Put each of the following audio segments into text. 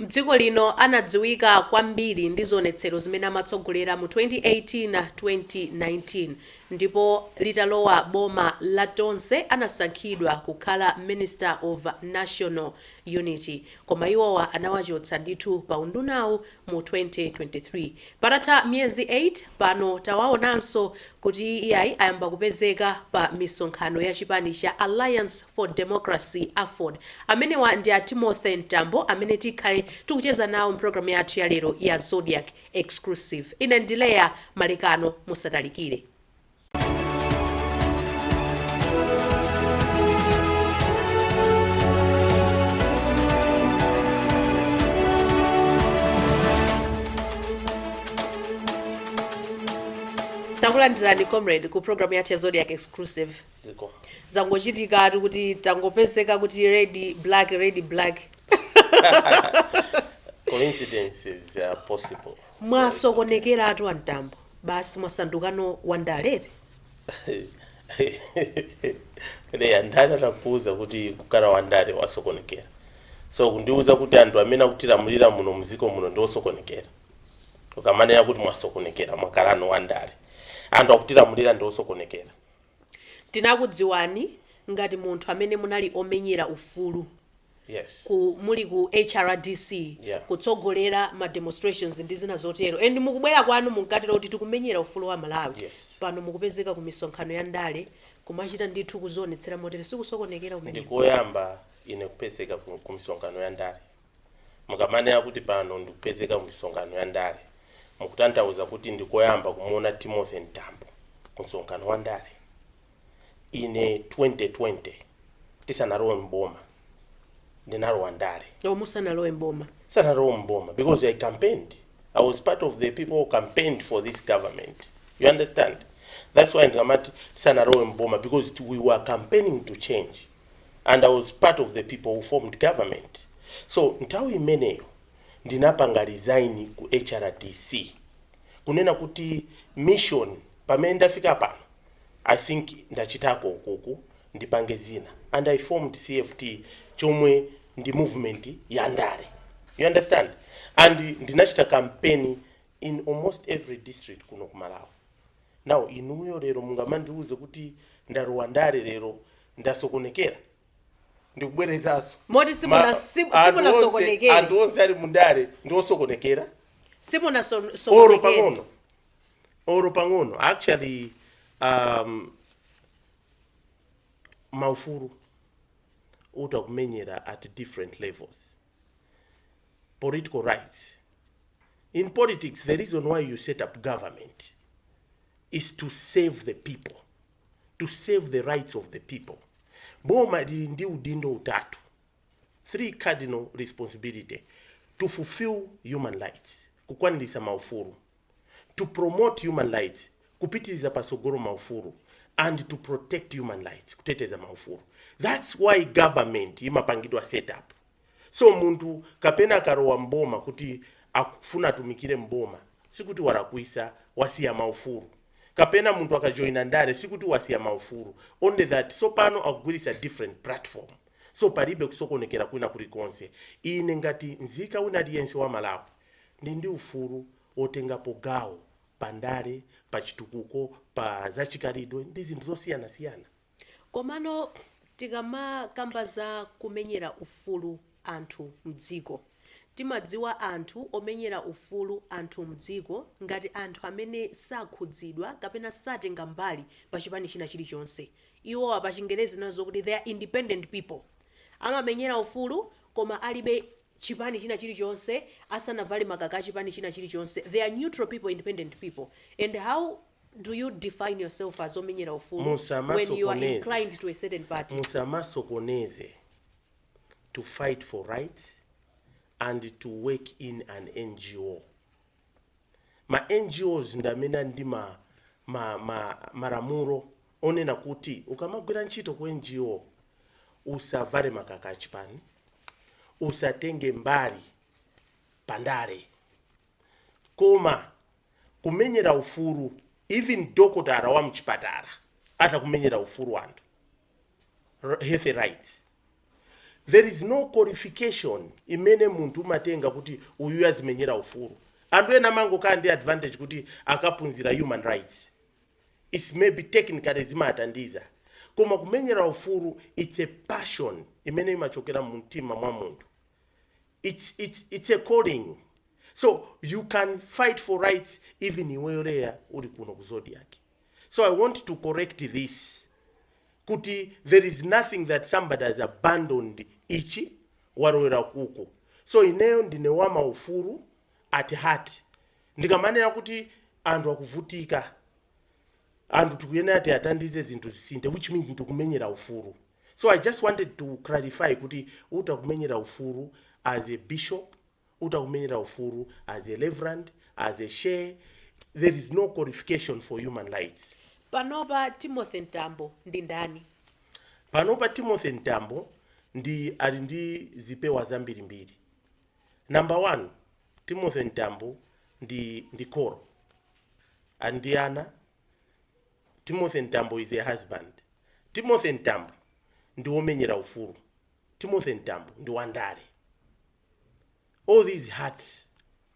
M'dziko lino anadziwika kwambiri ndi zionetsero zimene amatsogolera mu 2018, 2019 ndipo litalowa boma la Tonse anasankhidwa kukhala Minister of National Unity. Koma iwowa anawachotsa ndithu pa undunawu mu 2023. Patatha miyezi 8 pano tawaonanso kuti iyayi ayamba kupezeka pa misonkhano ya chipani cha Alliance for Democracy, Aford. Amenewa ndi a Timothy Mtambo amene tikhale tikucheza nawo m'programu yathu yalero ya Zodiak Exclusive. Ine ndi Leah Malekano, musatalikire. takulandirani comrade ku programu yathu ya zodiak exclusive zikomo zangochitikatu kuti tangopezeka kuti red black red black coincidences are possible mwasokonekeratu a mtambo basi mwasanduka no wandale eti leah ndani anakuuza kuti kukhala wandale wasokonekera so kundiuza kuti anthu amene akutilamulira muno mdziko muno ndi osokonekera ukamanena kuti mwasokonekera mwakhala no wandale anthu akutilamulira ndi osokonekera tinakudziwani ngati munthu amene munali omenyera ufulu Yes. ku muli ku hrdc Yeah. kutsogolera ma demonstrations ndi zina zotero and mukubwera kwanu munkatero kuti tikumenyera ufulu wa amalawi Yes. pano mukupezeka ku misonkhano ya ndale kumachita ndithu kuzionetsera motere sikusokonekera kumene ndikoyamba ine kupezeka ku ku misonkhano ya ndale mukamanena kuti pano ndikupezeka ku misonkhano ya ndale mukutanthauza kuti ndikoyamba kumuona timothy mtambo ku msonkhano wa ndale ine 2020 tisanalowe mboma ndinalowa ndale o musanalowe mboma sanalowe mboma because i campaigned i was part of the people who campaigned for this government you understand that's why ndikamati tisanalowe mboma because it- we were campaigning to change and i was part of the people who formed government so nthawi imeneyo ndinapanga resign ku hrdc kunena kuti mission pamene ndafika pano I think ndachitako ukuku ndipange zina and I formed CFT chomwe ndi movement ya ndale you understand and ndinachita campaign in almost every district kuno ku Malawi now inuyo lero mungamandiuze kuti ndalowa ndale lero ndasokonekera ndikubwerezaso Moti simuna- Ma- sim- anthu simunasokonekere. onse- anthu onse ali mundale ndi osokonekera Simuna so, so oro pang'ono oro pang'ono actually um, maufulu uta kumenyera at different levels political rights in politics the reason why you set up government is to save the people to save the rights of the people boma lili ndi udindo utatu three cardinal responsibility to fulfill human rights kukwanirisa maufulu to promote human rights kupititsa patsogolo maufulu and to protect human rights kuteteza maufulu that's why government imapangidwa set up so munthu kapena akalowa mboma kuti akufuna atumikire mboma sikuti walakwisa wasiya maufulu kapena munthu akajoyina ndale sikuti wasiya maufulu only that so pano akugwiritsa different platform so palibe kusokonekera kwina kulikonse ine ngati nzika wina aliyense wa Malawi ndili ndi ufulu wotengapo gawo pa ndale, pa chitukuko, pa zachikhalidwe ndi zinthu zosiyanasiyana. Komano tikamakamba za kumenyera ufulu anthu mdziko, timadziwa anthu omenyera ufulu anthu mdziko ngati anthu amene sakhudzidwa kapena satenga mbali pa chipani china chilichonse. Iwowa pa Chingerezi tinena zokuti they are independent people. Amamenyera ufulu koma alibe chipani china chilichonse asanavale makaka achipani china chilichonse they are neutral people independent people and how do you define yourself as omenyera ufulu when you are inclined to a certain party musamasokoneze to fight for rights and to work in an NGO ma NGOs ndi amene ali ndi ma, ma, ma, malamulo onena kuti ukamagwira ntchito ku NGO usavale makaka achipani, usatenge mbali pandale, koma kumenyera ufulu even dokotala wa mchipatala atha kumenyera ufulu anthu health rights there is no qualification imene munthu umatenga kuti uyu azimenyera ufulu anthu ena amangokhala ndi advantage kuti akaphunzira human rights it's maybe technically zimatandiza koma kumenyera ufulu it's a passion imene imachokera mu mtima mwa munthu it's, it's, it's a calling so you can fight for rights even iweyo Leah uli kuno ku Zodiak So I want to correct this kuti there is nothing that somebody has abandoned ichi walowera kuku so ineyo ndine wa maufulu at heart ndikamanena kuti anthu akuvutika anthu tikuyenera kuti athandize zinthu zisinthe which means ndikumenyera ufulu so i just wanted to clarify kuti utha kumenyera ufulu as a bishop utakumenyera ufulu as a reverend, as a sheikh, there is no qualification for human rights. Panopa Timothy Mtambo ndi ndani? Panopa Timothy Mtambo ndi ali ndi zipewa zambirimbiri. Number one, Timothy Mtambo ndi ndi kholo ali ndi ana. Timothy Mtambo is a husband. Timothy Mtambo ndi womenyera ufulu. Timothy Mtambo ndi wandale. all these hats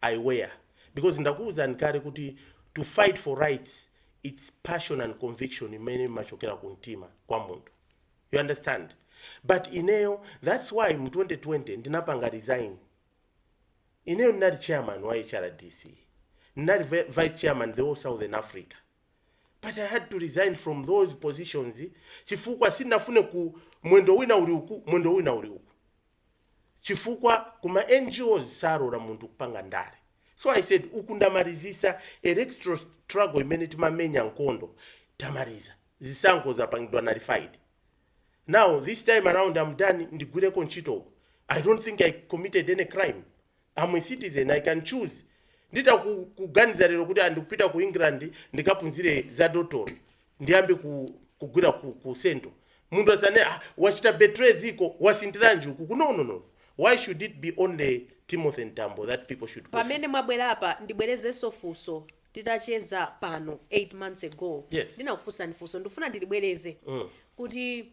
i wear because ndakuwuzani kale kuti to fight for rights it's passion and conviction imene imachokera ku mtima kwa munthu you understand but ineyo that's why mu 2020 ndinapanga resign ineyo ndinali chairman wa hrdc ndinali vi- vice chairman the whole southern africa but i had to resign from those positions chifukwa sindinafune kuti mwendo wina uli uku mwendo wina uli uku chifukwa ku ma NGOs salola munthu kupanga ndale so I said uku ndamalizitsa electoral struggle imene timamenya nkhondo tamaliza zisankho zapangidwa nullified now this time around I'm done ndigwireko ntchito uku I don't think I committed any crime I'm a citizen i can choose nditha ku- kuganiza lero kuti ah ndikupita ku england ndikaphunzire za dotolo ndiyambe ku, kugwira ku, ku central munthu asanene ah, wachita betray dziko wasinthiranji uku no no no why should it be only timothy mtambo that people should question? pamene mwabwera apa ndibwerezenso funso titacheza pano 8 months ago Yes. ndinakufunsani funso ndifuna ndilibwereze kuti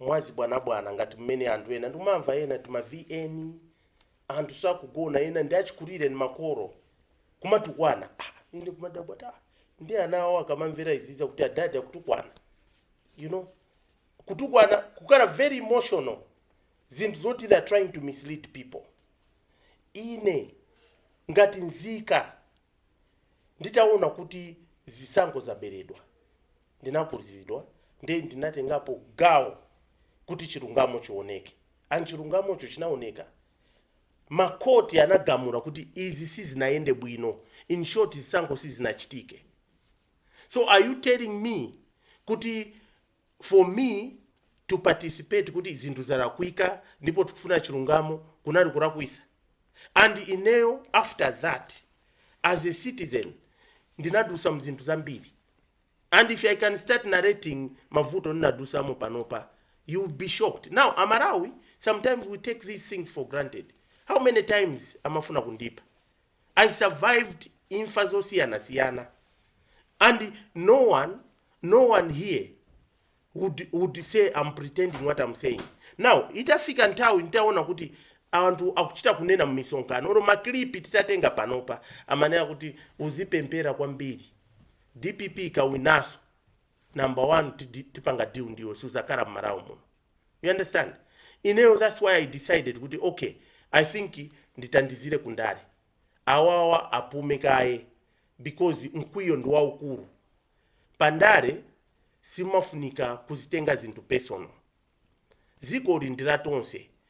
mwachibwanabwana ngati mmene anthu ena ndimamva ena tima vn anthu sakugona ena ndi achikulire ndi makolo kumatukwana ah, ine kumadabwa kuti ndi ana awo akamamvera izizi kuti adadi akutukwana you know kutukwana kukhala very emotional zinthu zoti they are trying to mislead people ine ngati nzika nditaona kuti zisankho zaberedwa ndinakhudzidwa nde ndinatengapo gawo kuti chilungamo chioneke and chilungamocho chinaoneka makhoti anagamula kuti izi sizinayende bwino in short zisankho sizinachitike so are you telling me kuti for me to participate kuti zinthu zalakwika ndipo tikufuna chilungamo kunali kulakwisa and ineyo after that as a citizen ndinadusa mzinthu zambiri and if i can start narrating mavuto ndinadusamo panopa you will be shocked now amalawi sometimes we take these things for granted how many times amafuna kundipa I survived imfa zosiyanasiyana and no one, no one here would, would say I'm pretending what I'm saying. Now, itafika nthawi nitaona kuti anthu akuchita kunena mmisonkhano oro maklipi titatenga panopa amanena kuti uzipemphera kwambiri dpp ikawinanso number one tidi- tipanga deal ndiwe suzakhala mMalawi muno you understand ineyo thats why i decided kuti okay i think nditandizire ku ndale awawa apume kaye because mkwiyo ndi waukulu pa ndale simmafunika kuzitenga zinthu personal dziko ili ndi la tonse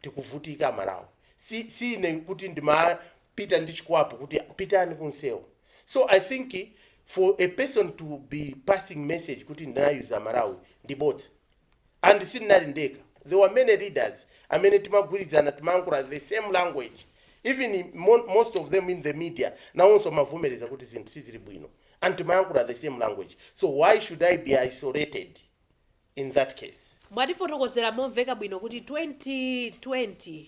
tikuvutika amalawi si, si ine kuti ndimapita ndi chikwapu kuti pitani kunsewu so i think for a person to be passing message kuti ndinayuza amalawi ndi bodza and sindinali ndekha there were many leaders amene timagwirizana timayankhula the same language even in mo most of them in the media nawonso amavomereza kuti zinthu sizili bwino and timayankhula the same language so why should i be isolated in that case. Mwatifotokozera momveka bwino kuti 2020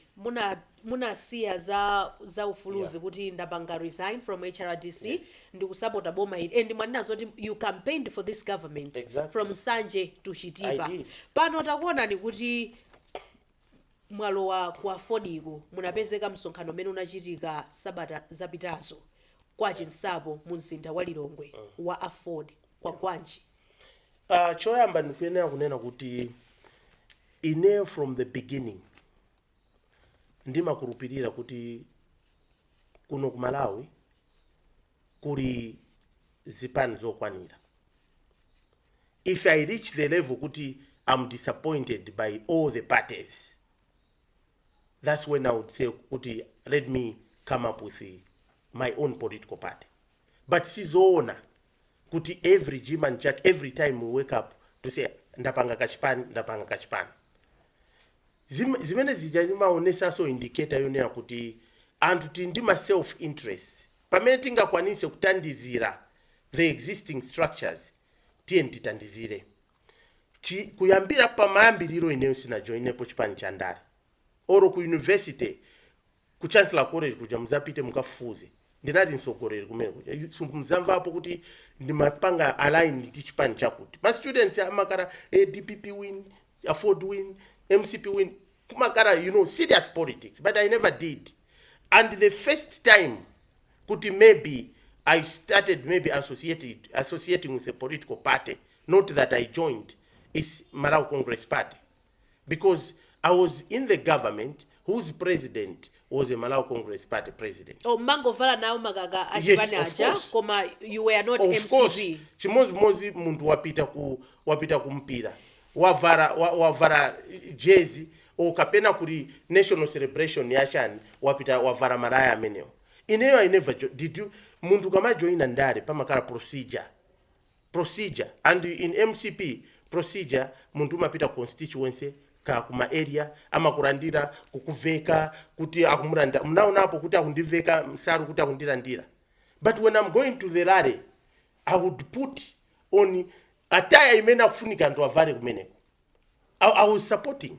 munasiya za za ufuluzi kuti ndapanga resign from hrdc ndikusapota boma ili and mwanena zoti you campaigned for this government Exactly. from nsanje to chitipa I did. pano takuonani kuti mwalowa ku afordiko munapezeka msonkhano umene unachitika sabata zapitazo kwa chinsapo mu mzinda wa lilongwe wa aford kwagwanji Uh, choyamba ndikuyenera kunena kuti ine from the beginning ndimakhulupirira kuti kuno ku malawi kuli zipani zokwanira if i reach the level kuti i'm disappointed by all the parties that's when i would say kuti let me come up with my own political party but sizoona kuti every Jim and Jack every time we wake up to say ndapanga kachipani ndapanga kachipani Zim- zimene zija zimaonesanso indicator yonena kuti anthu tili ndi ma self interest pamene tingakwanise kutandizira the existing structures tiyeni titandizire Chi- kuyambira pamayambiriro ineyo sinajoinepo chipani cha ndale or ku university ku chancellor college kuja muzapite mukafufuze ndinali mtsogoleri kumene kuja yu- simuzamvapo kuti ndimapanga align ndi chipani chakuti ma students amakhala eh, dpp wing aford wing mcp wing kumakhala you know serious politics but i never did and the first time kuti maybe i started maybe associated, associating with a political party not that i joined is malawi congress party because i was in the government whose president was a malawi congress party president oh, mmangovala nawo makaka achipani aja Yes, of course. koma you were not MCP of course chimodzimodzi munthu wapita ku wapita ku mpira wavala wa- wavala jezi o kapena kuli national celebration yachani wapita wavala malaya amenewo ineyo i never jo- did you munthu kamajoyina ndale pamakhala procedure procedure and in mcp procedure munthu umapita ku constituency ka ku ma area amakulandira kukuveka kuti akumulandira mnaonapo kuti akundiveka nsalu kuti akundilandira but when i'm going to the rally i would put on attire imene akufunika anthu avale kumeneko I, I was supporting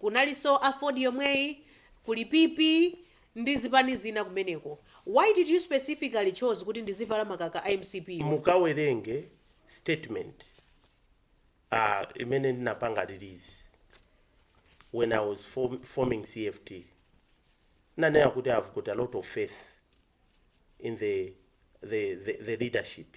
Kunalinso AFORD yomweyi, kuli PP ndi zipani zina kumeneko. Why did you specifically chose kuti ndizivala makaka a MCP wo? Mukawerenge statement imene ndinapanga release when I was form, forming CFT. Nanena kuti I've got a lot of faith in the, the, the, the leadership.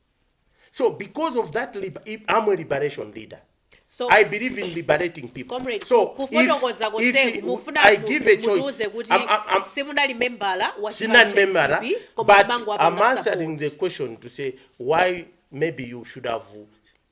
so because of that lib i- I'm a liberation leader So- I believe in liberating people comrade so if- kufotokoza if konseku mufuna I mu- give a choice mutiuze kuti I'm- I'm- I'm- simunali membala wa chipani Sinan cha Memara, DCP, koma but kumango I'm apanga answering the support. question to say why maybe you should have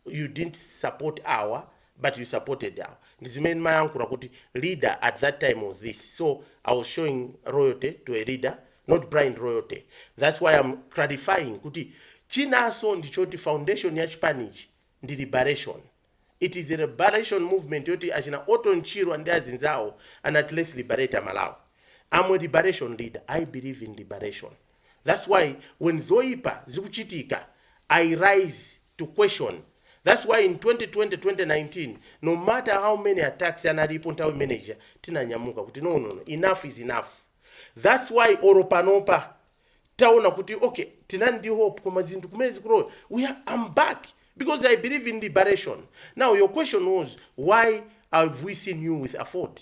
you didn't support our but you supported awa ndizimene ndimayankhula kuti leader at that time was this so i was showing loyalty to a leader not blind loyalty that's why i'm clarifying kuti chinanso ndichoti foundation ya chipanichi ndi liberation it is a liberation movement yoti achina Orton Chirwa ndi azinzawo anatilesa liberate amalawi i'm a liberation leader i believe in liberation thats why when zoipa zikuchitika i rise to question thats why in 2020 2019 no matter how many attacks analipo nthawi imene ija tinanyamuka kuti no no no enough is enough thats why olo panopa taona kuti okay tinali ndi hope koma zinthu kumene zikulowa we are, I'm back because i believe in liberation now your question was why have we seen you with AFORD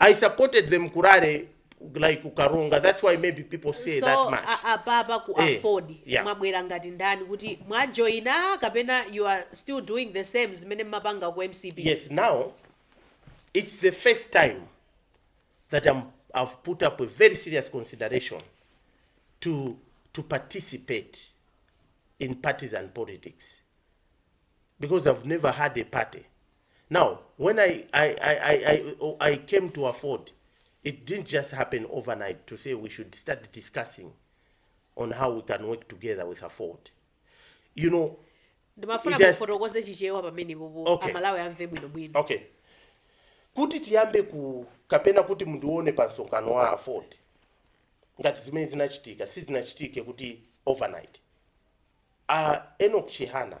I supported them kurare like ku Karonga. That's why maybe people say so that much. a- apapa ku Eh, afford yeah. mwabwera ngati ndani kuti mwajoina kapena you are still doing the same zimene mmapanga ku mcp Yes, now it's the first time that I'm, I've put up a very serious consideration to, to participate in partisan politics because I've never had a party Now, when I, I, I, I, I, oh, I came to AFORD, it didn't just happen overnight to say we should start discussing on how we can work together with AFORD. You know, It has- ndimafuna mufotokoze chichewa pamene apopo amalawi amve bwinobwino okay kuti tiyambe ku kapena kuti mundione pa msonkhano wa AFORD ngati zimene zinachitika sizinachitike kuti overnight uh, Enoch Chihana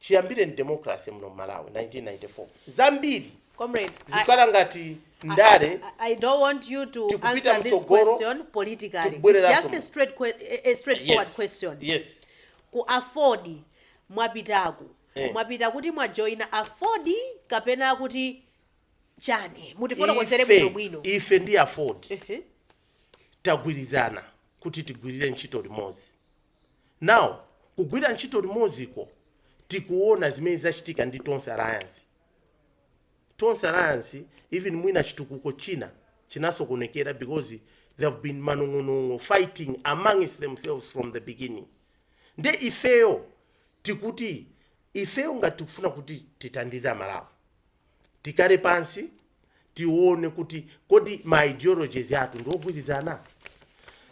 chiyambireni democracy muno mmalawi 1994 zambiri zikukhala ngati ndale Tikupita mtsogolo, tikubwerera kuno. Comrade, I, I, I, I don't want you to answer this question politically. It's just a straight que- a- a straightforward question. yes yes Ku AFORD mwapitaku. Eh. Mwapita kuti mwajoina AFORD kapena kuti chani. Mutifotokozere bwino bwino. Ife, ife ndi AFORD Ehe. tagwirizana kuti tigwirire ntchito limodzi Now kugwira ntchito limodziko tikuona zimene zachitika ndi Tonse Alliance. Tonse Alliance even mwina chitukuko china chinasokonekera because there have been manong'onong'o fighting amongst themselves from the beginning. Nde ifeyo tikuti ifeyo ngati tikufuna kuti tithandize aMalawi Tikhale pansi tione kuti kodi ma ideologies athu ndiogwirizana?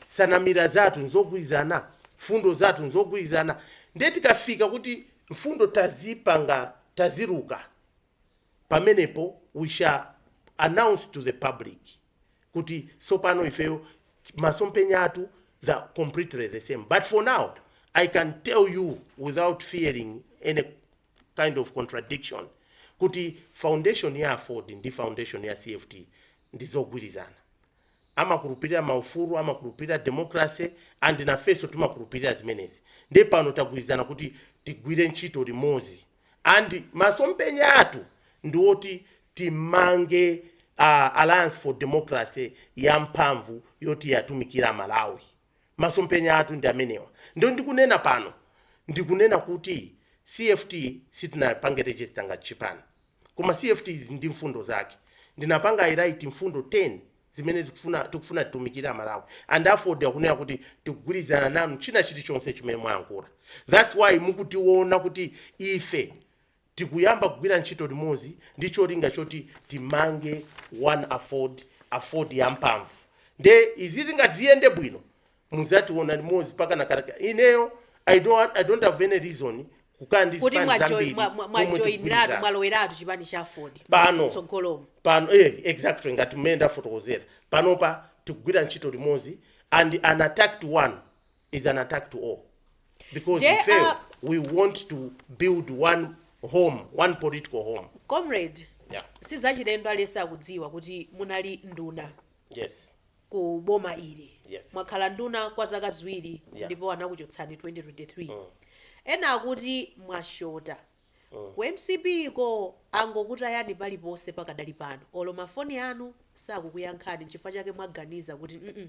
Nsanamira zathu nzogwirizana? Mfundo zathu nzogwirizana? Ndiye tikafika kuti mfundo tazipanga, taziluka, pamenepo we shall announce to the public kuti tsopano ifeyo masomphenya athu they're completely the same. But for now, I can tell you without fearing any. kind of contradiction kuti foundation ya aford ndi foundation ya cft ndi zogwirizana amakhulupirira maufulu amakhulupirira democracy and nafenso timakhulupirira zimenezi ndiye pano tagwirizana kuti tigwire ntchito limodzi and masompenya athu ndi oti timange uh, alliance for democracy ya mphamvu yoti iwatumikire aMalawi Masomphenya athu ndi amenewa. Ndiye ndikunena pano, ndikunena kuti CFT sitinapange register ngati chipani. Koma CFT ili ndi mfundo zake. Ndinapanga highlight mfundo 10 zimene tikufuna titumikire Amalawi. And Aford yakunena kuti tikugwirizana nanu china chilichonse chimene mwayankhula. That's why mukutiona kuti ife Tikuyamba kugwira ntchito limodzi ndi cholinga choti timange one aford, aford ya mphamvu. Nde izizi ngati ziyende bwino muzationa limodzi mpaka kale. Ineyo I don't, I don't have any reason kukhala ndi Kuti zipani mwajoina zambiri mwa mwa- mwa momwe joinatu tikugwirizana. mwaloweratu chipani cha Aford. Pano. Tsogolomo. pano eh, exactly ngati mmene ndafotokozera panopa tikugwira ntchito limodzi and an attack to one is an attack to all because we want to build one home one political home comrade yeah sizachilendo aliyense akudziwa kuti munali nduna yes ku boma ili Yes. mwakhala nduna kwa zaka ziwiri Yeah. ndipo anakuchotsani 2023 ena akuti mwashota Ku mcp ko angokutayani paliponse pakadali pano olo ma foni anu sakukuyankhani nchifukwa chake mwaganiza kuti mm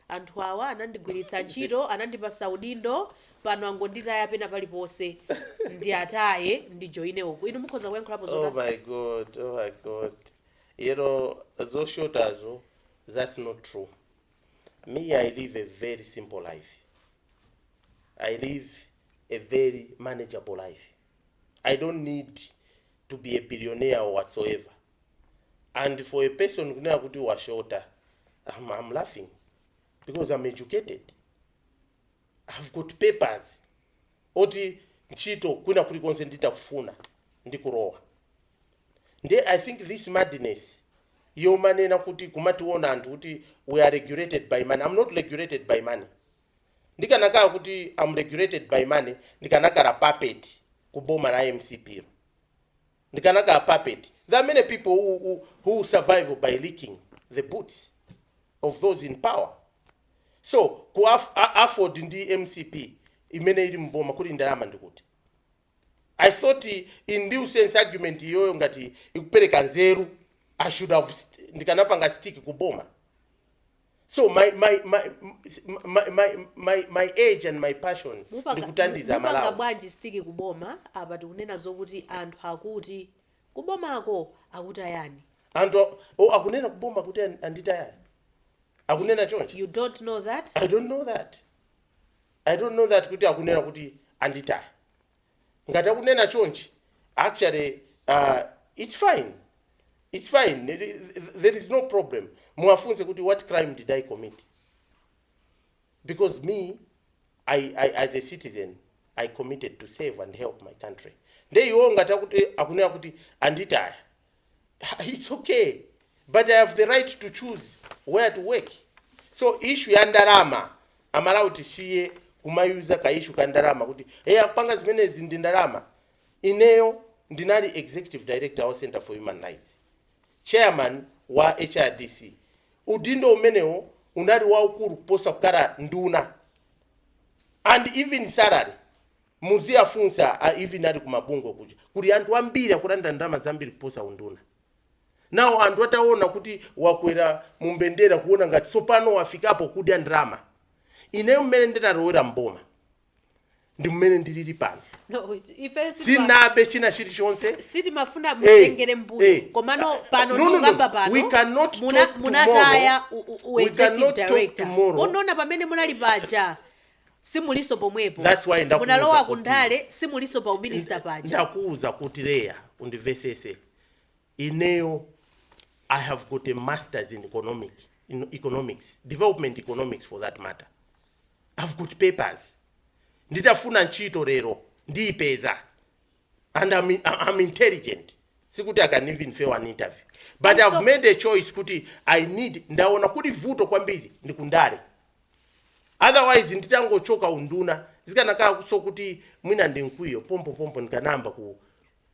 anthu awa anandigwiritsa ntchito anandipasa udindo pano angonditaya pena paliponse ndiataye ndijoine uku inu mukhoza kuyankhulapo Oh zotani my god, oh my god. You know, those shotas, oh, that's not true. Me, I live a very simple life. I live a very manageable life, I don't need to be a billionaire or whatsoever and for a person kunena kuti washota I'm, I'm laughing because I'm educated I've got papers oti ntchito kwina kulikonse nditakufuna ndikulowa nde i think this madness yomanena kuti kumationa anthu kuti we are regulated by money i'm not regulated by money Ndikanakala kuti am regulated by money ndikanakala puppet ku boma la mcp-lo. Ndikanakala puppet. There are many people who, who, who survive by licking the boots of those in power. So ku aff- a- Aford ndi mcp imene ili mboma kuli ndalama ndikuti. I thought in essence argument iyoyo ngati ikupereka nzeru I should have st ndikanapanga stick ku boma. So my my my my my my, my age and my passion ndikutandiza Malawi. Mupanga, mu- mupanga bwanji stick kuboma apa tikunena zokuti anthu akuti kubomako akutayani Anthu a- oh, akunena kuboma kuti an- anditayani. Akunena chonchi. you don't know that I don't know that. I don't know that kuti akunena kuti anditaya. Ngati akunena chonchi actually uh, it's fine. It's fine. Th- th- There is no problem. Muwafunse kuti what crime did I commit? Because me I, I as a citizen I committed to serve and help my country. Nde iwo ngati akuti akunena kuti anditaya. its ok but i have the right to choose where to work so issue ya ndalama amalawi tisiye kumayuza ka issue ka ndalama kuti hey apanga zimenezi ndi ndalama ineyo ndinali executive director wa center for human rights chairman wa hrdc udindo umenewo unali waukulu kuposa kukhala nduna and even salary Muziafunsa a even ali kumabungwe kuja kuli anthu ambiri akulandira ndalama zambiri kuposa unduna. Now anthu ataona kuti wakwera mu mbendera kuona ngati tsopano wafikapo kudya ndalama. Ineyo mmene ndinalowera m'boma ndi mmene ndilili pano. Sinabe china chilichonse. No, ifeyo sitima- si- sitimafuna mutengere mbuyo komano pano ndikukamba pano Eh, eh. No, no, no. We cannot talk tomorrow. We cannot talk tomorrow. muna- munataya u- u- u executive director onani pamene munali paja simuliso pomwepo munalowa kundale simuliso pa uminista paja That's why ndakuuza kuti- ndakuuza kuti leya undivesese ineyo i have got a masters in economic in economics development economics for that matter i've got papers nditafuna ntchito lero ndiyipeza and I'm, I'm intelligent sikuti i can even fail an interview but i've made a choice kuti i need ndaona kuti vuto kwambiri ndi kundale otherwise nditangochoka unduna zikanakhalanso kuti mwina ndi mkwiyo pompopompo ndikanayamba ku,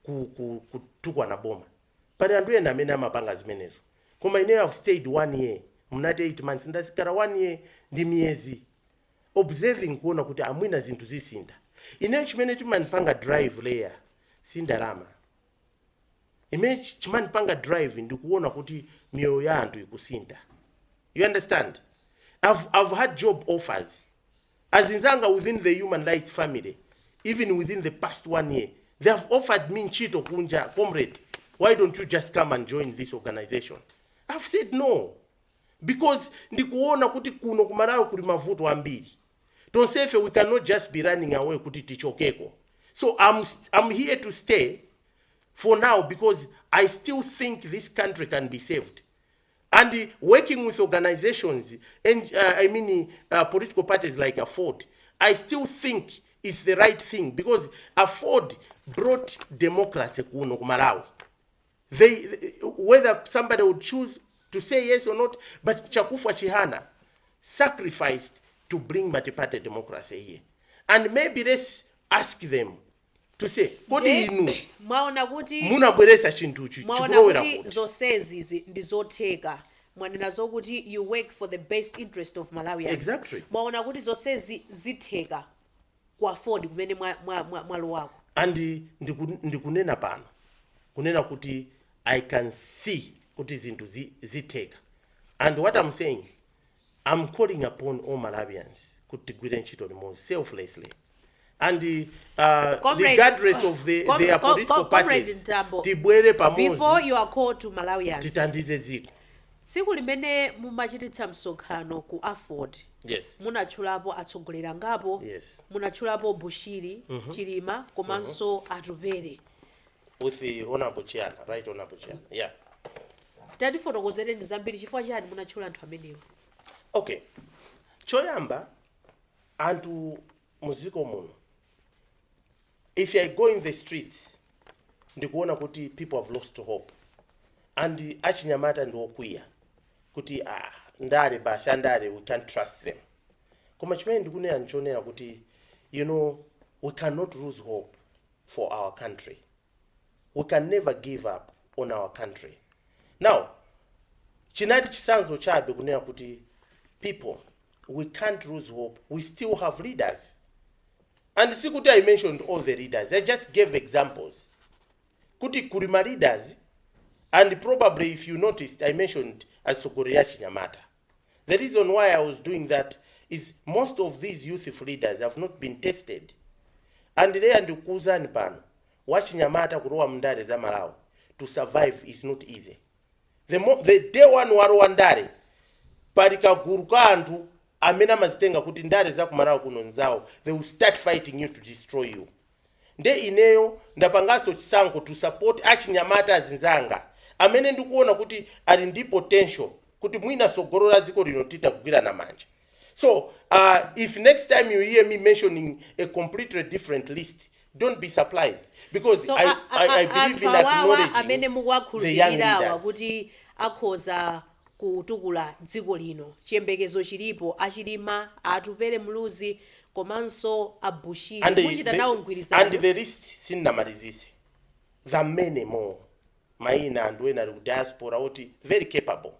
ku, ku, kutukwana boma but anthu ena amene amapanga zimenezo koma ine i've stayed one year munati 8 months ndakhala one year ndi miyezi observing kuona kuti a mwina zinthu zisintha ine chimene chimandipanga drive layer si ndalama imene ch- chimandipanga drive ndikuona kuti miyoyo ya anthu ikusintha you understand I've, i've had job offers azinzanga within the human rights family even within the past one year they have offered me ntchito kunja comrade why don't you just come and join this organization i've said no because ndikuona kuti kuno ku malawi kuli mavuto ambiri tonsefe we cannot just be running away kuti tichokeko so I'm, I'm here to stay for now because i still think this country can be saved and working with organizations and uh, i mean uh, political parties like afford i still think it's the right thing because afford brought democracy kuno ku malawi they whether somebody would choose to say yes or not but chakufwa chihana sacrificed to bring multiparty democracy here and maybe let's ask them to say kodi inu munabweresa chinthuchi mwaona chikulowera kuti kuti zonsezi zi- ndi zotheka mwanena zokuti you work for the best interest of malawians Exactly. mwaona kuti zonsezi zitheka ku afford kumene mwa, mwa, mwa, mwalowako and ndiku, ndikunena pano kunena kuti i can see kuti zinthu zi, zitheka and what i'm saying i'm calling upon all malawians kuti tigwire ntchito limodzi selflessly and uh, Comrade- regardless of the, Com- their com- political com- Comrade parties Mtambo, tibwere pamodzi before you call upon malawians titandize dziko tsiku limene mumachititsa msonkhano ku Aford Yes. munatchulapo atsogoleri angapo Yes. munatchulapo bushiri chilima komanso atupere With the honorable Chihana, right honorable Chihana. Yeah. tatifotokozere ndi zambiri chifukwa chani munatchula anthu amenewo Okay. Choyamba anthu muziko muno If I go in the street ndikuona kuti people have lost hope and achinyamata ndi okwiya kuti ah, ndale basi andale we can't trust them koma chimene ndikunena ndichonena kuti you know we cannot lose hope for our country we can never give up on our country now chinali chisanzo chabe kunena kuti people we can't lose hope we still have leaders And sikuti I mentioned all the readers, I just gave examples kuti kuli ma leaders and probably if you noticed I mentioned atsogoleri achinyamata. The reason why I was doing that is most of these youthful leaders have not been tested. And leya ndikukuuzani pano wachinyamata kulowa mndale za Malawi to survive is not easy. the, mo- the day one walowa ndale pali kagulu ka anthu amene amazitenga kuti ndale za kumalawi kuno nzawo they will start fighting you to destroy you nde ineyo ndapanganso chisankho to support achinyamata azinzanga amene ndikuona kuti ali ndi potential kuti mwina sogolo la dziko lino titagwirana manja So uh, if next time you hear me mentioning a completely different list, don't be surprised because so I, a- I, I a- a- believe in anthu awawa amene acknowledging the young mukuwakhulupirirawa leaders. kuti akhoza kutukula dziko lino chiyembekezo chilipo achilima atupele muluzi komanso abushiri And the, muchita nawo the, and mgwirizano the list sinamalizise. There are many more. maina anthu ena ali ku diaspora oti very capable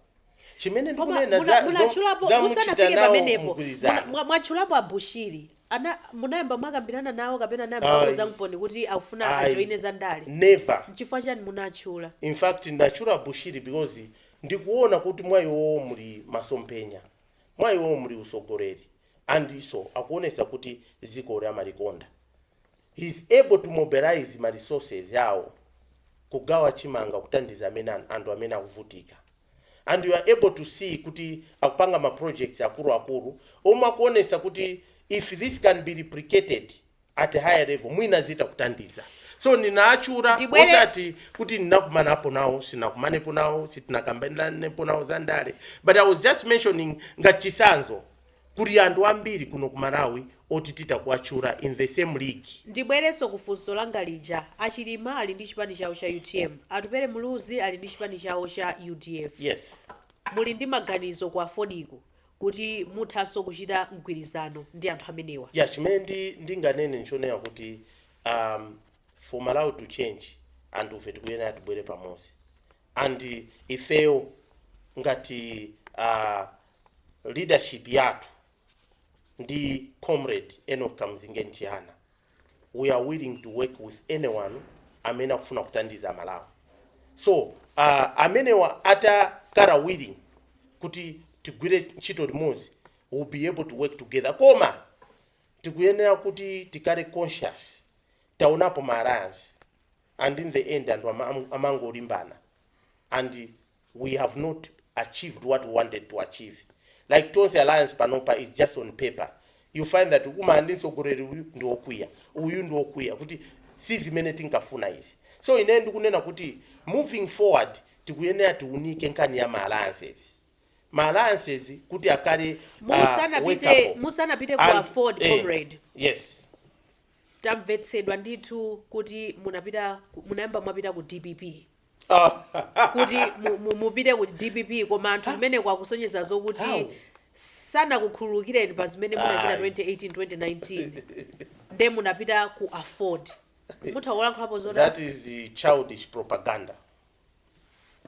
chimene Koma ndikunena muna- za- zo- munatchulapo za muchita musanafike nawo pamenepo mgwirizano. muna- mwa- mwatchulapo abushiri ana munayamba mwakambirana nawo kapena anayamba Ayi. akuuzaniponi kuti akufuna Ayi. ajoine za ndale never nchifukwa chani munatchula in fact ndachula abushiri because ndikuona kuti mwa iwowo muli masomphenya mwa iwowo muli usogoleri and so akuonesa kuti zikoli amalikonda He is able to mobilize ma resources awo kugawa chimanga kutandiza anthu amene akuvutika and you are able to see kuti akupanga ma projects akulu akulu omwe akuonesa kuti if this can be replicated at a higher level mwina zita kutandiza so ndinaachura Ndibwere- osati kuti ndinakumanapo nawo sinakumanepo nawo sitinakambiranepo nawo za ndale but i was just mentioning ngati chisanzo Kuli anthu ambiri kuno ku Malawi oti titha kuwatchula in the same league. Ndibwerenso ku funso langa lija, a Chilima ali ndi chipani chawo cha utm, Atupele Muluzi ali ndi chipani chawo cha udf. Yes. Muli ndi maganizo ku Afordiko kuti muthanso kuchita mgwirizano ndi anthu amenewa? Yeah, chimene ndinganene nchonena kuti um, for Malawi to change anthufe tikuyenera tibwere pamodzi and ifeyo ngati uh, leadership yathu ndi comrade Enock Kamzingeni Chihana we are willing to work with anyone amene akufuna kutandiza Malawi so uh, amenewa atakhala willing kuti tigwire ntchito limodzi we will be able to work together koma tikuyenera kuti tikale conscious taonapo ma alliance and in the end anthu ama- amangolimbana and we have not achieved what we wanted to achieve like tonse alliance panopa is just on paper you find that ukumana ndi mtsogoleri uyu ndi wokwiya uyu ndi wokwiya kuti si zimene tinkafuna izi so ine ndikunena kuti moving forward tikuyenera tiunike nkhani ya ma alliances ma alliances kuti akale ah, wake musanapite up. musanapite ku And- aford eh, comrade yes tamvetsedwa ndithu kuti munapita ku- munayamba mwapita ku dpp kuti mu- mu- mupite ku dpp koma anthu kumeneko akusonyeza How? zokuti sanakukhululukireni pa zimene munachita Ayi. 2018 2019 nde munapita ku Aford mutha kulankhulapo zodani that is the childish propaganda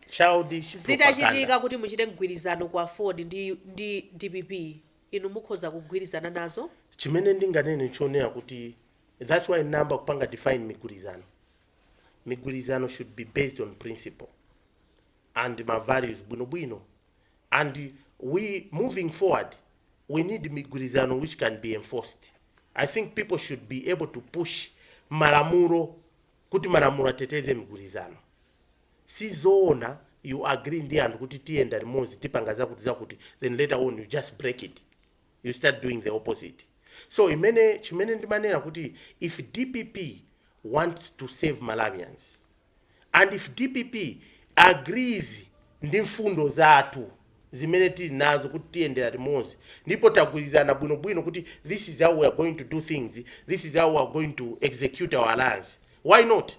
childish propaganda. zitachitika kuti muchite mgwirizano ku Aford ndi, ndi dpp inu mukhoza kugwirizana nazo chimene ndinganene chonena kuti that's why ndayamba kupanga define migwirizano migwirizano should be based on principle and ma values bwinobwino and we moving forward we need migwirizano which can be enforced i think people should be able to push malamulo kuti malamulo ateteze migwirizano si zoona you agree ndi anthu kuti tiyenda limodzi tipanga zakuti zakuti then later on you just break it you start doing the opposite so imene chimene ndimanena kuti if dpp wants to save malawians and if dpp agrees ndi mfundo zathu zimene tili nazo kuti tiyendera limodzi ndipo tagwirizana bwinobwino kuti this is how we are going to do things this is how we are going to execute our alliance why not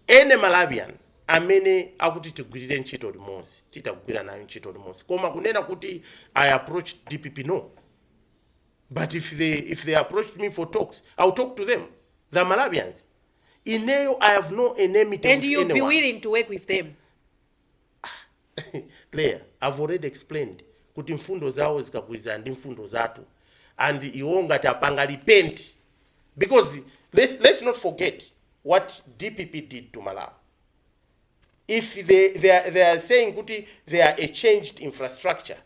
any malawian amene akuti tigwirire ntchito limodzi titha kugwira naye ntchito limodzi koma kunena kuti i approached dpp no but if they, if they approached me for talks i'll talk to them they are malawians ineyo i have no enmity and you'll be willing to work with them Leah i've already explained kuti mfundo zawo zikagwirizana ndi mfundo zathu and iwo ngati apanga repent because let's, let's not forget what dpp did to malawi if they, they, are, they are saying kuti they are a changed infrastructure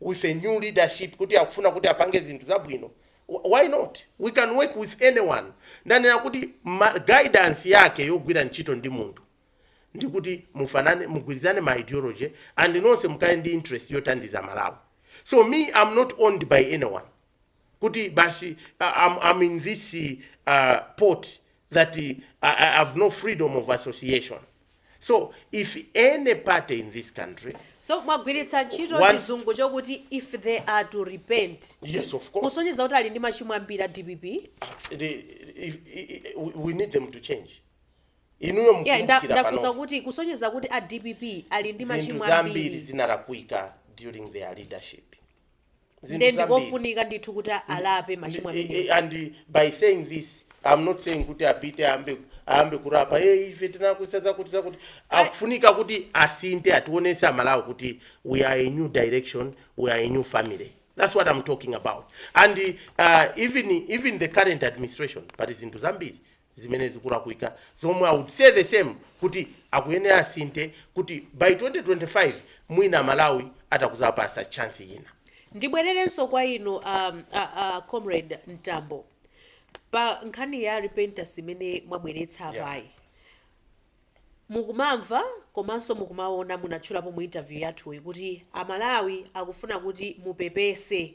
with a new leadership kuti akufuna kuti apange zinthu zabwino wh- why not we can work with anyone ndanena kuti ma- guidance yake yogwira ntchito ndi munthu ndi kuti mufanane mugwirizane ma ideology and nonse mukhale ndi interest yothandiza malawi so me i'm not owned by anyone kuti basi uh, I'm, I'm in this uh, pot that uh, I, I have no freedom of association so if any party in this country so mwagwiritsa ntchito One- chizungu chokuti if they are to repent yes of course kusonyeza kuti ali ndi machimo ambiri a dpp the, if, i- i- we we need them to change inuyo Yeah, nda- mukumbukira ndafunsa pano kuti kusonyeza kuti a dpp ali ndi zinthu machimo zambiri ambiri zinalakwika during their leadership Zinthu nde zambiri. ndikofunika ndithu kuti alape machimo Ndi- amene eh, eh, and by saying this i'm not saying kuti apite ayambe ayambe kulapa e ife tinalakwitsa zakuti zakuti akufunika kuti asinthe ationetse amalawi kuti we are a new direction we are a new family that's what i'm talking about and uh, even, even the current administration pali zinthu zambiri zimene zikulakwika zomwe i would say the same kuti akuyenera asinthe kuti by 2025 mwina amalawi atakuzapasa chance ina ndibwererenso kwa inu um, a, a comrade mtambo pa nkhani ya repentance imene mwabweretsa Yeah. apayi mukumamva komanso mukumaona munatchulapo mu interview yathuyi kuti amalawi akufuna kuti mupepese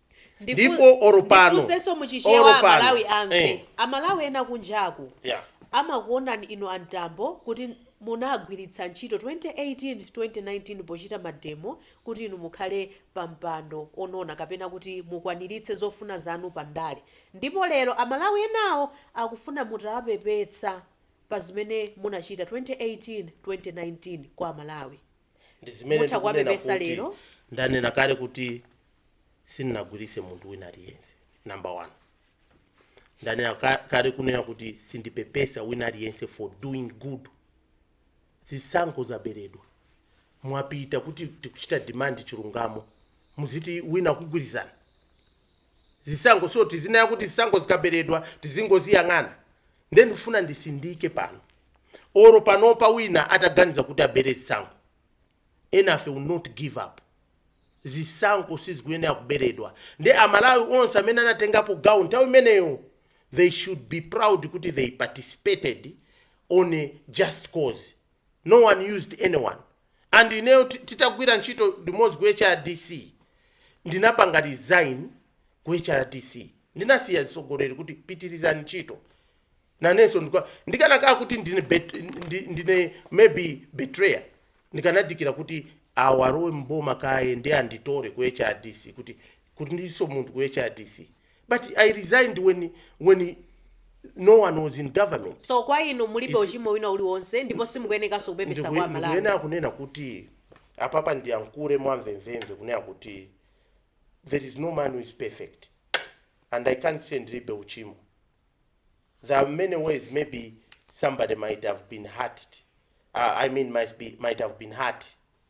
Ndifu- ndipo oro pano ndifunsenso mu chichewa oro pano. amalawi amve Eh, amalawi ena kunjaku yeah. amakuonani inu a Mtambo kuti munagwiritsa ntchito 2018 2019 pochita mademo kuti inu mukhale pa mpando onona kapena kuti mukwaniritse zofuna zanu pa ndale ndipo lero amalawi enawo akufuna mutawapepesa pa zimene munachita 2018 2019 kwa amalawi ndi zimene Mutha ndikunena kuwapepesa kuti lero. ndanena kale kuti sindinagwiritse munthu wina aliyense number one ndanena ka- kale kunena kuti sindipepesa wina aliyense for doing good zisankho zaberedwa mwapita kuti tikuchita demand chilungamo muziti wina wakugwiritsani zisankho so tizinena kuti zisankho zikaberedwa tizingoziyang'ana nde ndifuna ndisindike pano oro panopa wina ataganiza kuti abere zisankho enafe we'll not give up zisankho sizikuyenera kuberedwa nde amalawi onse amene anatengapo gawo nthawi imeneyo they should be proud kuti they participated on a just cause no one used anyone and ineyo titagwira ntchito limodzi ku hrdc ndinapanga resign ku hrdc ndinasiya atsogoleri kuti pitirizani ntchito nanenso ndikanakhala kuti ndine, bet, ndine maybe betrayer ndikanadikira kuti awa alowe mboma kaye nde anditore ku hrdc kuti kuti ndiso munthu ku hrdc But I resigned when, when no one was in government. so kwa inu mulibe Isi- uchimo wina uliwonse ndipo simukuyenekanso kupepesa kwa Ndikuyenera amalawi kunena kuti apapa ndiyankhule mwamvemvemve kunena kuti there is no man who is perfect and I can't say ndilibe uchimo. There are many ways maybe somebody might have been hurt. Uh, I mean might be might have been hurt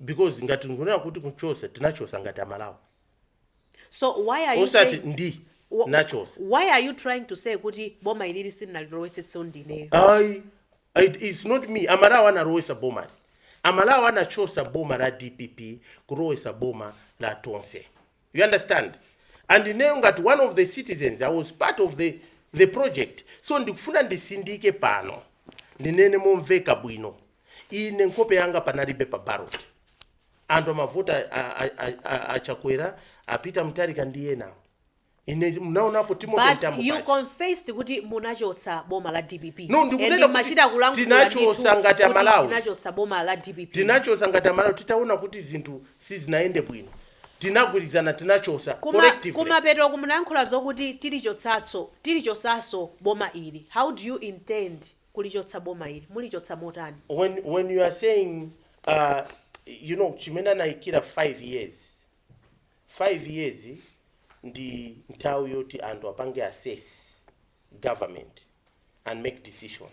because ngati nkunena kuti kuchosa tinachosa ngati amalawi so why are you osati saying, ndi wh- nachosa why are you trying to say kuti boma ilili sindinalilowetsenso ndineyo ayi it is not me amalawi analowesa boma li amalawi anachosa boma la dpp kulowesa boma la tonse you understand and ineyo ngati one of the citizens i was part of the the project so ndikufuna ndisindike pano ndinene momveka bwino ine nkhope yanga panalibe pa ballot anthu amavota a- a- a- a- a Chakwera a Peter Mutharika ndi enawo ine mnaonapo Timothy Mtambo paja. But you confessed kuti munachotsa boma la dpp No, ndikunena kuti And machita kulankhula tinachosa ndithu ngati kuti Amalawi. tinachotsa boma la dpp tinachosa ngati amalawi titaona kuti zinthu sizinayende bwino tinagwilizana tinachosa collectively. Kuma, kumapetoku munayankhula zokuti tilichotsatso, tilichosaso boma ili. How do you intend kulichotsa boma ili? Mulichotsa motani? when when you are saying uh, you know chimene anayikira 5 years 5 years ndi nthawi yoti anthu apange assess government and make decision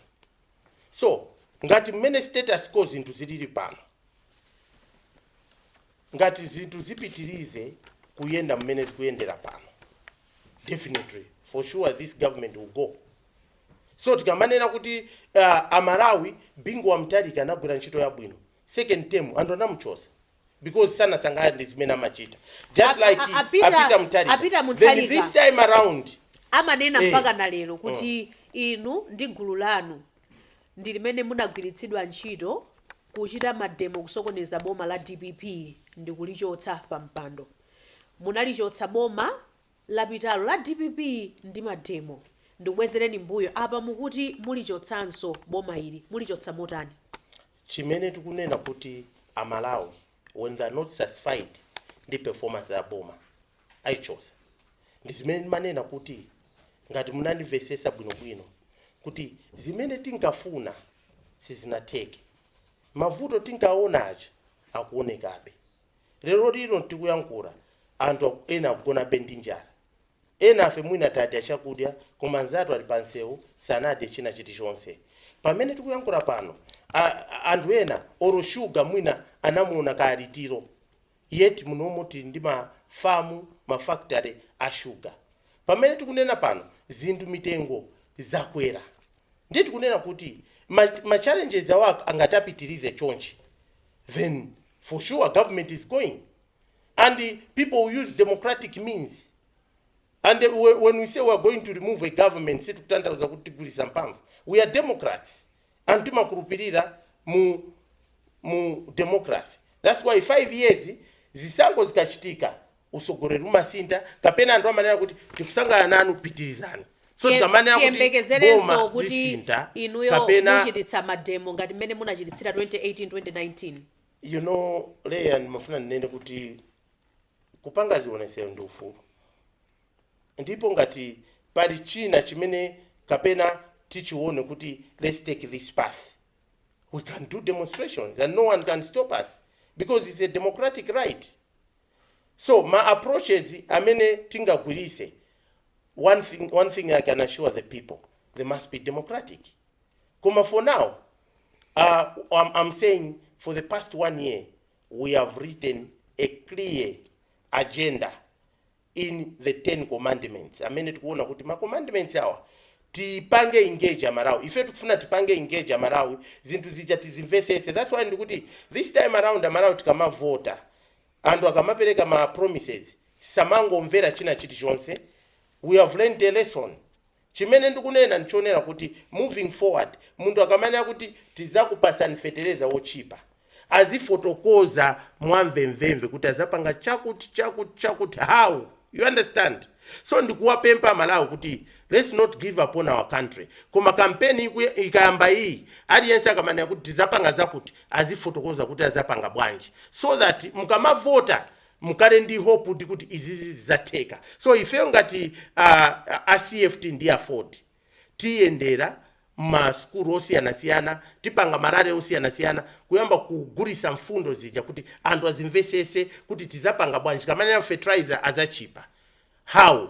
so ngati mmene status quo zinthu zilili pano Ngati zinthu zipitilize kuyenda mmene zikuyendera pano definitely for sure this government will go. So tikamanena kuti uh, a Malawi Bingu wa Mutharika anagwira ntchito yabwino second term anthu anamuchosa because sanasangalale ndi zimene amachita just like A- a- a- a Peter- Peter Mutharika. a Peter Mutharika. Then this time around Eh. amanena mpaka na lero kuti inu ndi gulu lanu ndi limene munagwiritsidwa ntchito Kuchita mademo kusokoneza boma la dpp ndi kulichotsa pa mpando. Munalichotsa boma lapitalo la dpp ndi mademo. Ndikubwezereni mbuyo apa mukuti mulichotsanso boma ili. Mulichotsa motani? Chimene tikunena kuti a Malawi when they are not satisfied ndi performance ya boma aichosa ndi zimene ndimanena kuti ngati munandimvesesa bwinobwino kuti zimene tinkafuna sizinatheke mavuto tinkaona aja akuonekabe lero lino tikuyankhula anthu aku- ena akugonabe ndi njala enafe mwina tadya chakudya koma anzathu ali pansewu sanadye china chilichonse pamene tikuyankhula pano a- a- anthu ena olo shuga mwina anamuona kale litiro yet munomo tili ndi ma farm, ma factory a sugar. Pamene tikunena pano zinthu mitengo zakwera ndiye tikunena kuti ma ma challenges awa ngati apitilize chonchi then for sure government is going and people will use democratic means and when we say we are going to remove a government sitikutanthauza kuti tigwiritsa mphamvu. We are democrats. anthu timakhulupilira mu mu democracy that's why 5 years zisankho zikachitika usogoleri umasintha kapena anthu amanena kuti tikusangalala nanu pitirizani so Tiye- tikamanena kuti tiyembekezerenso boma kuti lisintha inuyo kapena muchititsa mademo ngati mmene munachititsira 2018 2019 you know Leah ndimafuna ndinene kuti kupanga zionesero ndi ufulu Ndipo ngati pali china chimene kapena tichione kuti let's take this path we can do demonstrations and no one can stop us because it's a democratic right. So ma approaches amene tingagwiritse one thing, one thing I can assure the people they must be democratic. Koma for now uh, I'm, I'm saying for the past one year we have written a clear agenda in the ten commandments amene tikuona kuti ma commandments awa tipange engage amalawi ife tikufuna tipange engage amalawi zinthu zija tizimvesese that's why ndikuti this time around amalawi tikamavota anthu akamapereka ma promises samangomvera china chilichonse we have learned a lesson Chimene ndikunena ndichonena kuti moving forward munthu akamanena kuti tizakupasani fetereza wotchipa azifotokoza mwamvemvemve kuti azapanga chakuti chakuti chakuti how you understand so ndikuwapempa amalawi kuti let's not give up on our country koma kampeni ikayamba iyi aliyense akamanena kuti tizapanga zakuti azifotokoza kuti azapanga bwanji so that mukamavota Mukhale ndi hope kuti izizi zizatheka so ifeyo ngati a, a, a CFT ndi aford tiyendera ma sukulu osiyanasiyana tipanga ma rally osiyanasiyana kuyamba kugulisa mfundo zija kuti anthu azimvesese kuti tizapanga bwanji tikamanena fertilizer azachipa how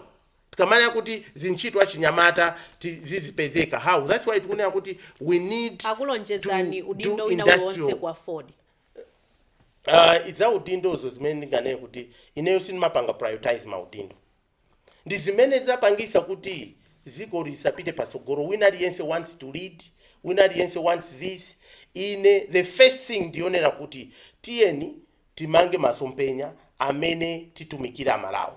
tikamanena kuti zintchito achinyamata ti- zizipezeka how that's why tikunena kuti we need akulonjezani to do udindo wina uliwonse industrial ku aford uh, idza udindozo zimene ndinganene kuti ineyo sindimapanga prioritize maudindo ndi zimene zapangisa kuti ziko lisapite patsogolo wina aliyense wants to lead wina aliyense wants this ine the first thing ndi chonena kuti tiyeni timange masomphenya amene titumikire amalawi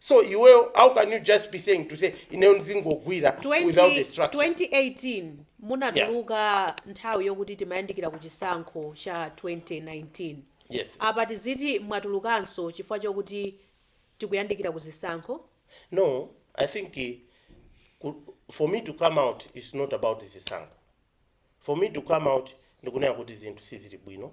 so iweyo how can you just be saying to say ineyo ndizingogwira without the structure 2018 munatuluka nthawi yokuti timayandikira ku chisankho cha 2019 yes apa tiziti mwatulukanso chifukwa chokuti tikuyandikira ku zisankho no i think eh, ku- for me to come out is not about zisankho for me to come out ndikunena kuti zinthu sizili bwino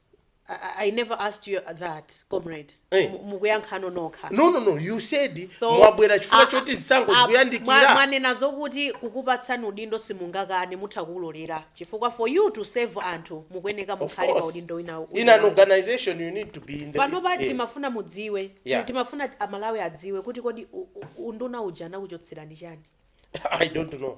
I, I- I never asked you that, comrade. Eh. Mu- Mukuyankha nokha. no no no you said So, mwabwera chifukwa a- choti zisankho a- mwa- zikuyandikira mwanena zokuti kukupatsani udindo simungakane mutha kuulolera chifukwa for you to serve anthu mukuyeneka Of mukhale pa course. udindo wina in wina an wake. organization you need to be in the pano pa Eh. timafuna mudziwe Yeah. timafuna ti- amalawi adziwe kuti kodi u- u- unduna uja anakuchotserani chani i don't know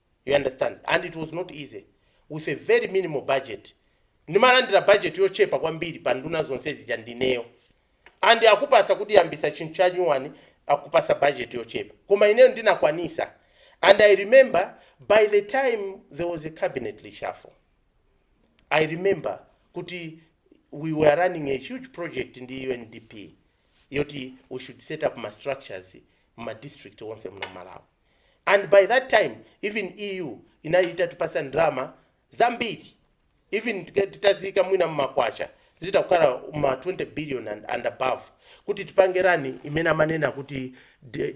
you understand and it was not easy with a very minimal budget ndimalandira budget yochepa kwambiri pa nduna zonse zija ndi ineyo and akupasa kuti yambisa chinthu cha nyuwani akupasa budget yochepa koma ineyo ndinakwanisa and i remember by the time there was a cabinet reshuffle i remember kuti we were running a huge project ndi undp yoti we should set up ma structures mma district onse muno malawi and by that time even EU inali itatipatsa ndalama zambiri even titaziika mwina mmakwacha zitha kukhala ma 20 billion and above kuti tipange run imene amanena kuti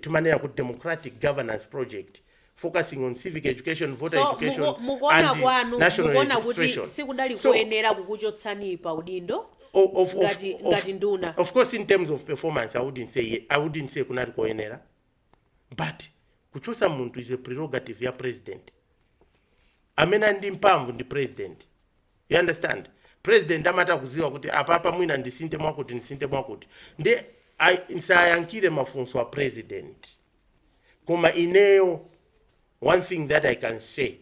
timanena kuti democratic governance project focusing on civic education voter education and national registration so mukuona kwanu mukuona kuti sikudali koyenera kukuchotsani pa udindo ngati nduna. of course in terms of performance i wouldn't say kunali koyenera but kuchotsa munthu is a prerogative ya president amene ali ndi mphamvu ndi president you understand president amatha kuziwa kuti apapa mwina ndisinthe mwakuti ndisinthe mwakuti nde ayi nsayankhire mafunso a president koma ineyo one thing that i can say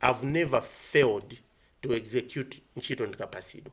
i've never failed to execute ntchito ndikapasidwa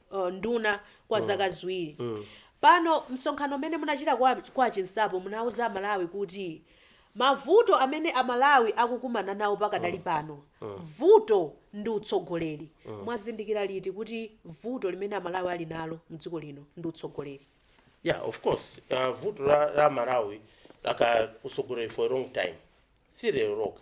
nduna kwa zaka ziwiri pano. Msonkhano umene munachita kwa Chinsapo munauza aMalawi kuti mavuto amene aMalawi akukumana nawo pakadali pano, vuto ndi utsogoleri. Mwazindikira liti kuti vuto limene aMalawi ali nalo m'dziko lino ndi utsogoleri? Yeah, of course. Uh, vuto la Malawi lakhala utsogoleri for a long time. Si lero lokha.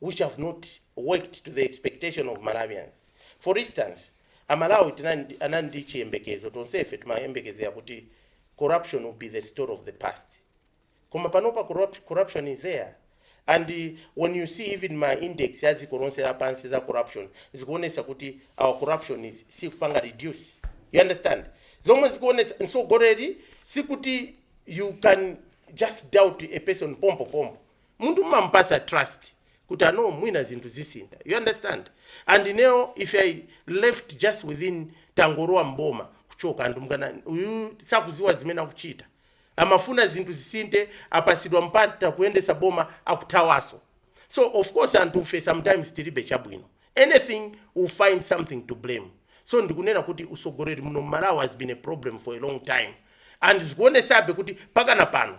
which have not worked to the expectation of Malawians. For instance, a Malawi anali ndi chiyembekezo tonsefe timayembekezera kuti corruption will be the story of the past. Koma panopa corruption is there. And uh, when you see even ma index a dziko lonse lapansi za corruption zikuonesa kuti our corruption sikupanga reduce. You understand? Zomwe zikuonesa mtsogoleri sikuti you can just doubt a person pompo pompo. munthu mmamupasa trust kuti ah no mwina zinthu zisintha you understand and ineyo if i left just within tangolowa mboma kuchoka anthu akanati uyu sakuziwa zimene akuchita amafuna zinthu zisinthe apasidwa mpata kuyendesa boma akuthawaso so of course anthufe sometimes tilibe chabwino anything will find something to blame so ndikunena kuti usogoleri muno mmalawi has been a problem for a long time and zikuonesabe kuti pakana pano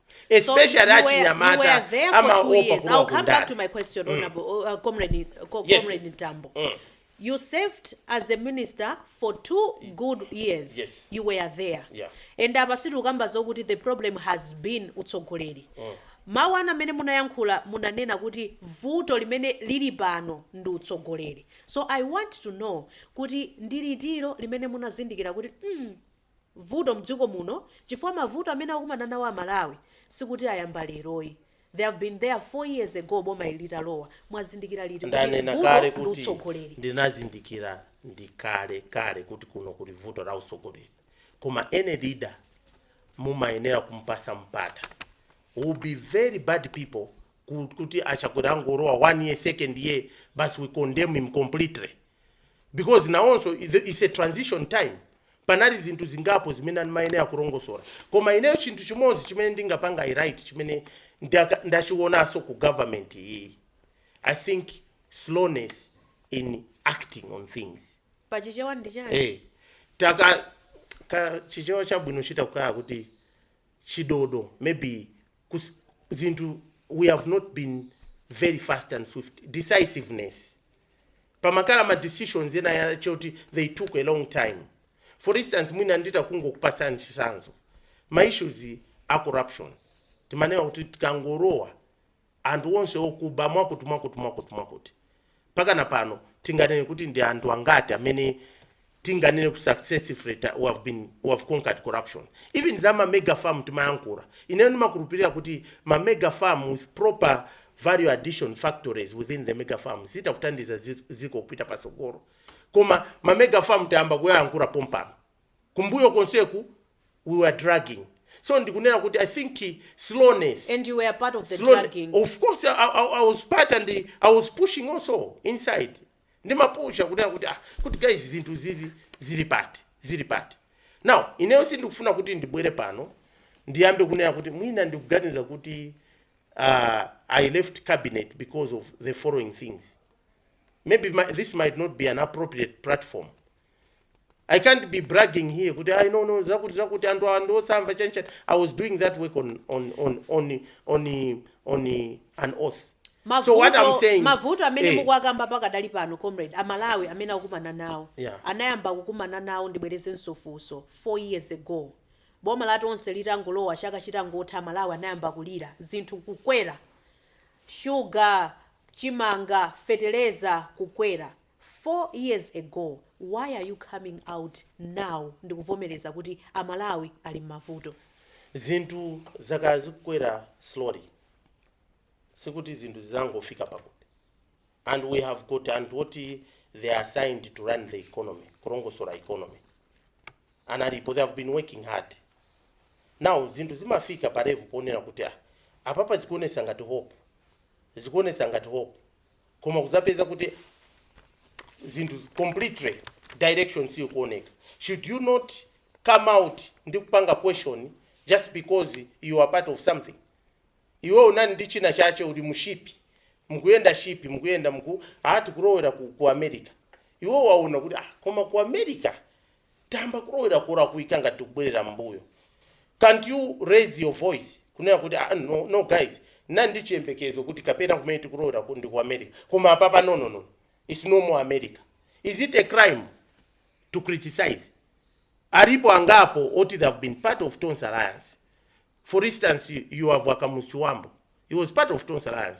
especially achinyamata amaopa kulowa kundale mtambo mm. you served as a minister for two good years yes. you were there yeah. and apa sitikukamba zokuti the problem has been utsogoleri mm. mawu anu amene munayankhula munanena kuti vuto limene lili pano ndi utsogoleri so i want to know kuti ndi liti lomwe limene munazindikira kuti mm, vuto mdziko muno chifukwa mavuto amene akukumana nawo amalawi sikuti ayamba lero ayi they have been there 4 years ago boma ili litalowa mwazindikira liti kuti vuto ndi utsogoleri ndinazindikira kalekale kuti kuno kuli vuto la utsogoleri koma any leader mumayenera kumpasa mpata we'll be very bad people ku- kuti achakwera angolowa one year second year basi we condemn him completely because nawonso it's a- it's a transition time Panali zinthu zingapo zimene amayenera kulongosola koma ineyo chinthu chimodzi chimene ndingapanga highlight chimene ndaka ndachionaso ku government iyi i think slowness in acting on things Pa Chichewa ndi chani? eh taka ka chichewa chabwino chita kaya kuti chidodo maybe kus, zinthu we have not been very fast and swift decisiveness pamakhala ma decisions ena oti they took a long time for instance mwina nditangokupasani chisanzo ma issues a corruption timanena kuti tikangolowa anthu onse okuba mwakuti mwakuti mwakuti mwakuti mpakana pano tinganene kuti ndi anthu angati amene tinganene kuti successfully ta, we have been we have conquered corruption even za ma mega farm timayankhula ineyo ndimakhulupirira kuti ma mega farm with proper value addition factories within the mega farm zitha kuthandiza zi- ziko kupita pasogolo koma ma mega farm tayamba kuyayankhula pompano kumbuyo konseku we were dragging so ndikunena kuti i think slowness and you were part of the Sloan- dragging Of course, I, I, I was part and the, I was pushing also inside. ndimapusha kunena kuti ah kuti guys zinthu izi zili pati zili pati now ineyo sindikufuna kuti ndibwere pano ndiyambe kunena kuti mwina ndikuganiza kuti uh, i left cabinet because of the following things maybe my, this might not be an appropriate platform i can't be bragging here kuti i know zakuti zakuti anthu awa ndiosamva chanichani i was doing that work on, on, on, on, on, on an oath so what i'm saying mavuto amene eh, mukuwakamba pakadali pano comrade amalawi amene akukumana nawo Yeah. anayamba kukumana nawo ndibwereze mfunso 4 years ago boma la tonse litangolowa chaka chitangotha amalawi anayamba kulira zinthu kukwera shuga chimanga feteleza kukwera 4 years ago why are you coming out now ndikuvomeleza kuti a Malawi ali mmavuto. Zinthu zakhala zikukwera slowly sikuti zinthu zizangofika pakuti and we have got anthu oti they are assigned to run the economy kulongosola economy analipo they have been working hard now zinthu zimafika pa level ponena kuti ah apapa zikuonesa ngati hope zikuonesa ngati hope koma kuzapeza kuti zinthu zi- completely direction siyikuoneka should you not come out ndi kupanga question just because you are part of something iwe unali ndi china chache uli mushipi mukuyenda shipi mukuyenda muku ati kulowera ku, ku america iwe waona kuti ah, koma ku america tayamba kulowera kolakwika ngati tikubwerera mmbuyo can't you raise your voice kunena kuti ah, no, no guys ndinali ndi chiyembekezo kuti kapena kumene tikuloweraku ndi ku america koma apapa no, no, no. its no more america is it a crime to criticize alipo angapo oti they have been part of tonse alliance for instance you have a kamuzu chibambo he was part of tonse alliance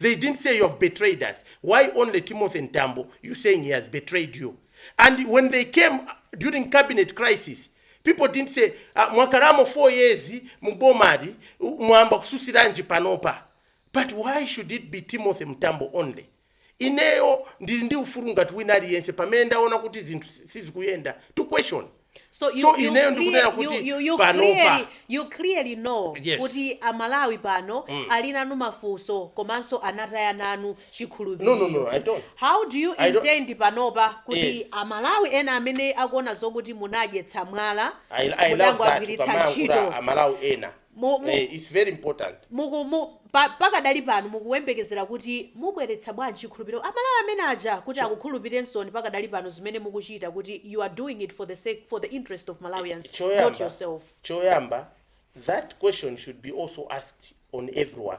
they didn't say you have betrayed us why only timothy mtambo you saying he has betrayed you and when they came during cabinet crisis people didn't say ah, mwakhalamo 4 years mubomali, mwayamba kutsutsiranji panopa but why should it be timothy mtambo only ineyo ndili ndi ufulu ngati wina aliyense pamene ndaona kuti zinthu sizikuyenda to question so, you, so ineyo ndikunena kuti panopa you clearly know yes. kuti amalawi pano mm. ali nanu mafunso komanso anataya nanu chikhulupiriro no, no, no, I don't. how do you I intend don't. panopa kuti yes. amalawi ena amene akuona zokuti munawadyetsa mwala mudangowagwiritsa ntchito amalawi ena Mu- mu- eh, it's very important muku- mu- pa- pakadali pano mukuyembekezera kuti mubweretsa bwanji chikhulupiriro amalawi amene aja kuti akukhulupirensoni pakadali pano zimene mukuchita kuti you are doing it for the sake for the interest of malawians not choyamba yourself choyamba that question should be also asked on everyone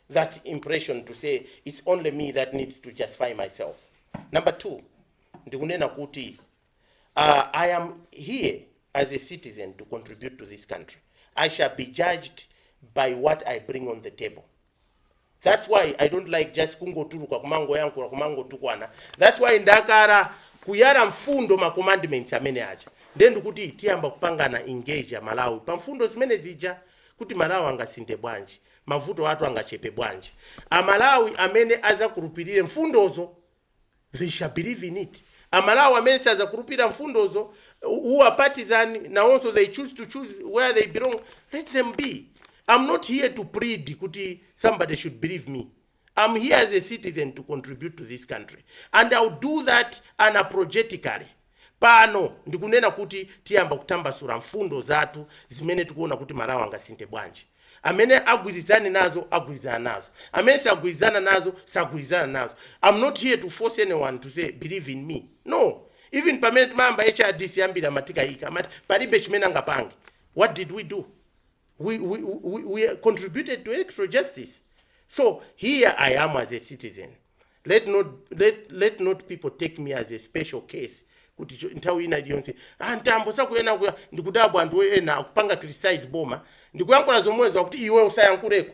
that impression to say it's only me that needs to justify myself. Number two, ndikunena kuti uh, I am here as a citizen to contribute to this country. I shall be judged by what I bring on the table. That's why I don't like just kungotuluka kumangoyankhula kumangotukwana. That's why ndakhala kuyala mfundo ma commandments amene aja. Nde ndikuti tiyamba kupangana engage a Malawi pa mfundo zimene zija kuti Malawi angasinthe bwanji. Mavuto athu angachepe bwanji, a Malawi amene azakhulupilire mfundozo they shall believe in it, a Malawi amene sazakhulupilira mfundozo who are partisan nawonso they choose to choose where they belong let them be, am not here to plead kuti somebody should believe me. I am here as a citizen to contribute to this country and I will do that unapologetically. Pano ndikunena kuti tiyamba kutambasula mfundo zathu zimene tikuona kuti Malawi angasinthe bwanji. Amene agwirizane nazo agwirizana nazo, amene sagwirizana nazo sagwirizana nazo. Am not here to force anyone to say believe in me no, even pamene timayamba hrdc ambiri amatikayikira amati palibe chimene angapange. What did we do? we, we, we, we contributed to electoral justice. So here I am as a citizen. Let not, let, let not people take me as a special case. kuti cho- nthawi ina iliyonse "Ah, Mtambo sakuyena kuya ndikudabwa anthu ena akupanga criticize boma ndikuyankhula zomwezo akuti iwe usayankhuleko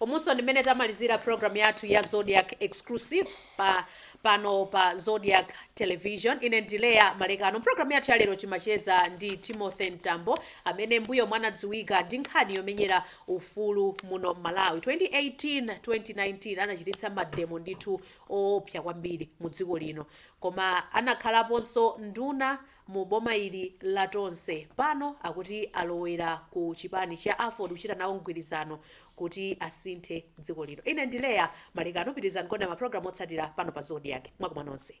Umunso ndi mmene tamalizira program yathu ya Zodiak Exclusive pano pa Zodiak Television. Ine ndi Leah Malekano. Mprogram yathu ya lero timacheza ndi Timothy Mtambo amene mbuyomu anadziwika ndi nkhani yomenyera ufulu muno Malawi. 2018, 2019 anachititsa mademo ndithu oopsa kwambiri mu dziko lino. Koma anakhalaponso nduna mu boma ili la Tonse pano akuti alowera ku chipani cha aford kuchita nawo mgwirizano kuti asinthe dziko lino. Ine ndi Leah Malekano pitirizani kuonera ma program otsatira pano pa Zodiak. Mwakoma nonse.